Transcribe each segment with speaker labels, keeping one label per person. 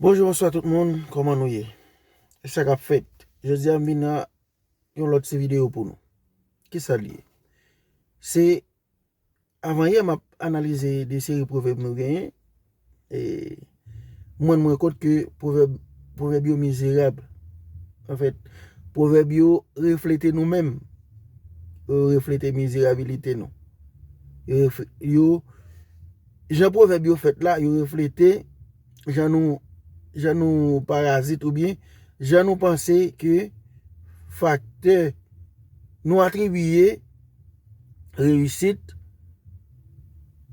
Speaker 1: Bonjou bonswa tout moun kòman nou ye e sa kap fèt jodya m vin ak yon lòt ti video pou nou kisa l ye se avan yè map analize de seri pwovèb nou genyen e m rann mwen kont ke pwovèb pwovèb yo mizerab an fèt pwovèb yo reflete nou menm yo reflete mizerabilite nou yo Jan pwovèb yo fèt la, yo reflete jan nou jan nou parazit oubyen jan nou panse ke faktè nou atribiye reyisit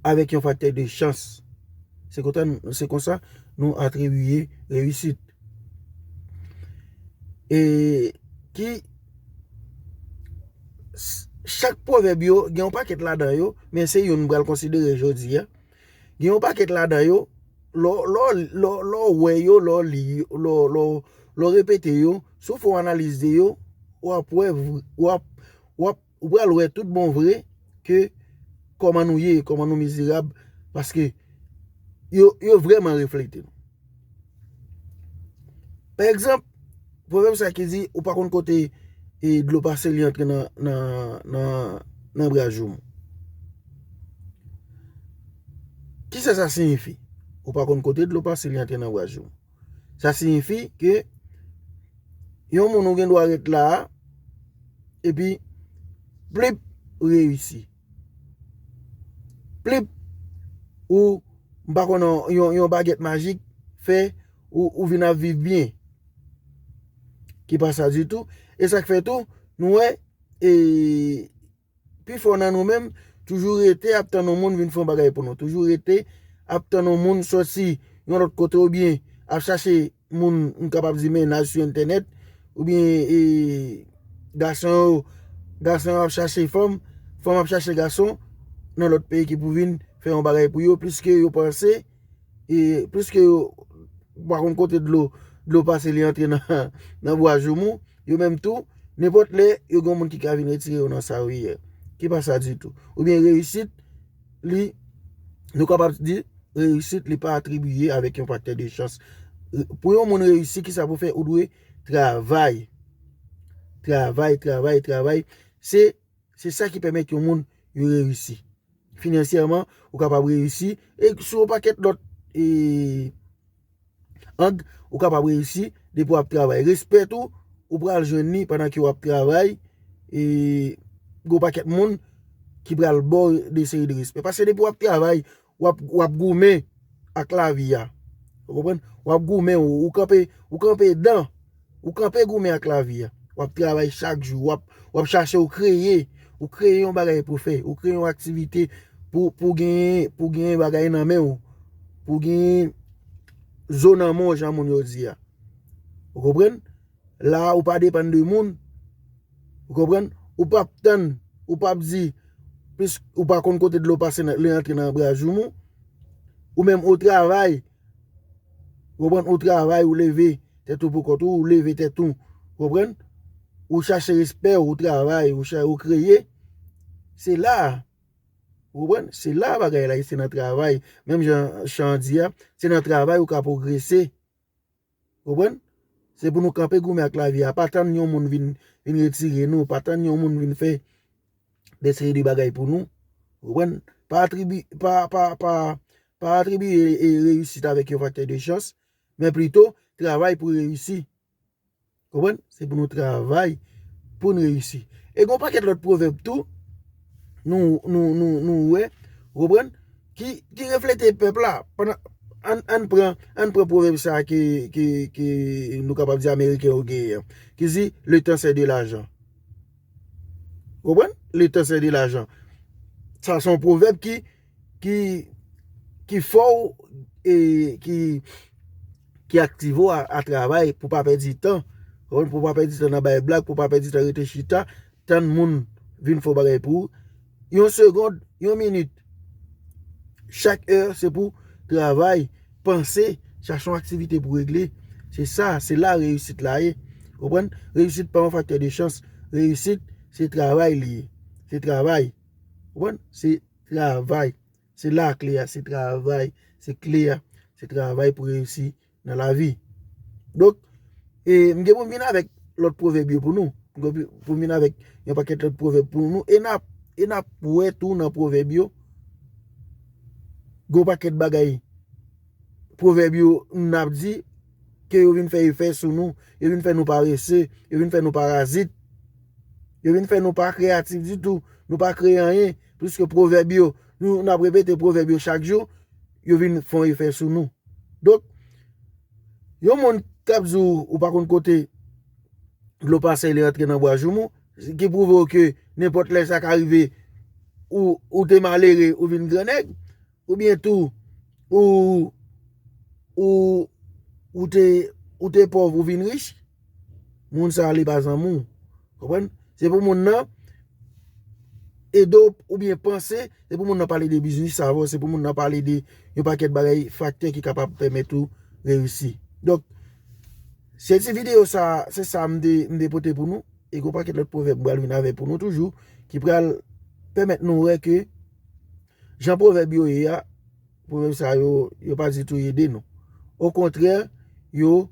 Speaker 1: avèk yon faktè de chans. Se konta se konsa nou atribiye reyisit. E ki Chak pwovèb yo gen yon pakèt ladan yo, men se youn m pral konsidere jodi a. Gen yon pakèt ladan yo, lè w wè yo, lè w li yo, lè w repete yo, si w fè yon analiz de yo, w ap wè, w ap, w ap, ou pral wè tout bon vre ke kòman nou ye, kòman nou mizerab, paske yo vrèman reflete. Pa egzanp, pwovèb sa ki di, ou pa konn kote dlo pase li antre nan brajoum. Ki sa sa siyifi? Ou pa konn kote dlo pase li antre nan brajoum. Sa siyifi ke yon moun ou gen dwa ret la, epi plip, ou reyisi. Plip! Ou, m pa konnen, yon bagèt majik fè ou vin ap viv byen. Ki pa sa ditou. E sa k fè tou, nou wè, e pifò nan nou menm toujou rete ap tann yon moun vin fè yon bagay pou nou. Toujou rete ap tann yon moun soti yon lòt kote oubyen ap chache moun m kapab di mennaj sou entènèt oubyen e gason yo gason yo ap chache fanm, fanm ap chache gason nan lòt peyi ki pou vin fè yon bagay pou yo pliske yo panse e pliske yo pa konn kote dlo dlo pase li antre nan bwa joumou yo menm tou nenpòt lè yo gen yon moun ki ka vin retire yo nan sa yo ye ki pa sa ditou oubyen reyisit li, nou kapab di, reyisit li pa atribiye avèk yon faktè de chans. Pou yon moun reyisi, ki sa pou fè? Ou dwe travay. Travay, travay, travay. Se sa ki pèmèt yon moun yo reyisi. Finansyèman, ou kapab reyisi. E sou yon pakèt lòt e... Ang ou kapab reyisi depi wap travay. Respè tou ou pral jwenn ni pandan ke wap travay e gwo pakèt moun ki pral bo de seri de respè. Pase depi wap travay wap goumen ak lavi ya. Wap goumen ou kanpe dan. Ou kanpe goumen ak lavi a. W ap travay chak jou. W ap chache ou kreye. Ou kreye yon bagay pou w fè. Ou kreye yon aktivite pou w genyen, pou w genyen bagay nan men w. Pou w genyen zo nan men w jan moun yo di a. Ou konprann? La ou pa depann de moun. Ou konprann? Ou pa ap tann, ou pa ap di, plis ou pa konn kote dlo pase lè antre nan bra joumou. Ou menm ou travay. Ou konprann? Ou travay, ou leve tèt ou pou kont ou, ou leve tèt ou. Ou konprann? Ou chache respè ou, ou travay, ou kreye. Se la a. Ou konprann? Se la a bagay la ye, se nan travay. Menm jan chan an di a, se nan travay ou ka pwogrese. Konprann? Se pou nou kanpe goumen ak lavi a, pa tann yon moun vin retire nou, pa tann yon moun vin fè de seri de bagay pou nou. Konprann? Pa atribi, pa, pa, pa, pa atribi reyisit avèk yon faktè de chans, men plito travay pou reyisi. Konprann? Se pou nou travay pou n reyisi. E gen yon pakèt lòt pwovèb tou nou wè, ou konprann, ki reflete pèp la. Ann pran pwovèb sa a ke nou kapab di ameriken yo genyen an, ki di, le tan se de lajan. Ou konprann? Le tan se de lajan. Sa son pwovèb ki. ki fè w e ki aktive w a travay pou pa pèdi tan, pou pa pèdi tan nan bay blag, pou pa pèdi tan rete chita, tann moun vin fè yon bagay pou ou. Yon segond, yon minit, chak è se pou travay, panse, chache yon aktivite pou regle. Se sa, se la reyisit la ye. Konprann? Reyisit pa yon faktè de chans. Reyisit se travay li ye. Se travay. Konprann? Se. Travay, se la a kle a, se travay, se kle a, se travay pou reyisi nan lavi. Donk, e m gen pou m vin avèk lòt pwovèb yo pou nou, m gen pou m vin avèk yon pakèt lòt pwovèb pou nou, e n ap wè tou nan pwovèb yo, gen yon pakèt bagay pwovèb yo n ap di. ke yo vin fè efè sou nou, yo vin fè nou parese, yo vin fè nou parazit, yo vin fè nou pa kreyatif ditou, nou pa kreye anyen, pwiske pwovèb yo, nou nan repete pwovèb yo chak jou, yo vin fon efè sou nou. Donk, yon moun k ap di w ou pa konn kote dlo pase li antre nan bwa joumou, ki pwouve w ke nenpòt lè sa ka rive ou te malere ou vin gran nèg, Oubyen tou, ou, ou, ou te, ou te pòv ou vin rich, moun sa a li pa zanmi w. Konprann? Se pou moun nan ede w oubyen panse, se pou moun nan pale de biznis avè w, se pou moun nan pale de yon pakèt bagay, faktè ki kapab pèmèt ou reyisi. Donk, se ti videyo sa, se sa m te, m te pote pou nou. E gon pakèt lòt pwovèb m pral vin avè pou nou toujou, ki pral pèmèt nou wè ke. Jan pwovèb yo ye a, pwovèb sa yo, yo pa ditou ede nou. Okontrè, yo,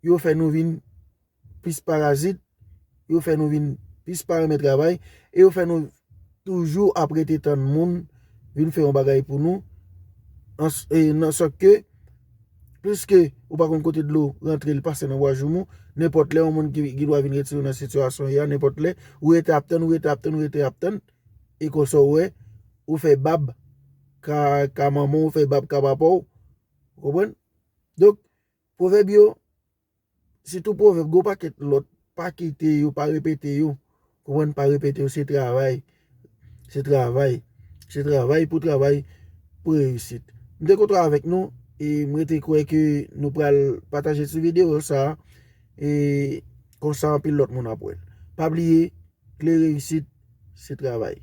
Speaker 1: yo fè nou vin plis parazit, yo fè nou vin plis pa renmen travay, e yo fè nou toujou ap rete tann moun vin fè yon bagay pou nou, nan sòt ke, pliske ou pa konn kote dlo rantre li pase nan bwa joumou, nenpòt lè yon moun ki gen dwa vin retire w nan sitiyasyon ou ye a, nenpòt lè, ou rete ap tann, ou rete ap tann, ou rete ap tann. E konsa ou wè, ou fè bab ka manman w, ou fè bab ka papa w. Ou konprann? Donk, pwovèb yo, sitou pwovèb, gen yon pakèt lòt, pa kite yo, pa repete yo. Ou konprann? Pa repete yo, se travay. Se travay. Se travay pou travay pou reyisit. M te kontan avèk nou e m rete kwè ke nou pral pataje ti videyo sa a e konsa anpil lòt moun ap wè l. Pa bliye. Kle reyisit se travay.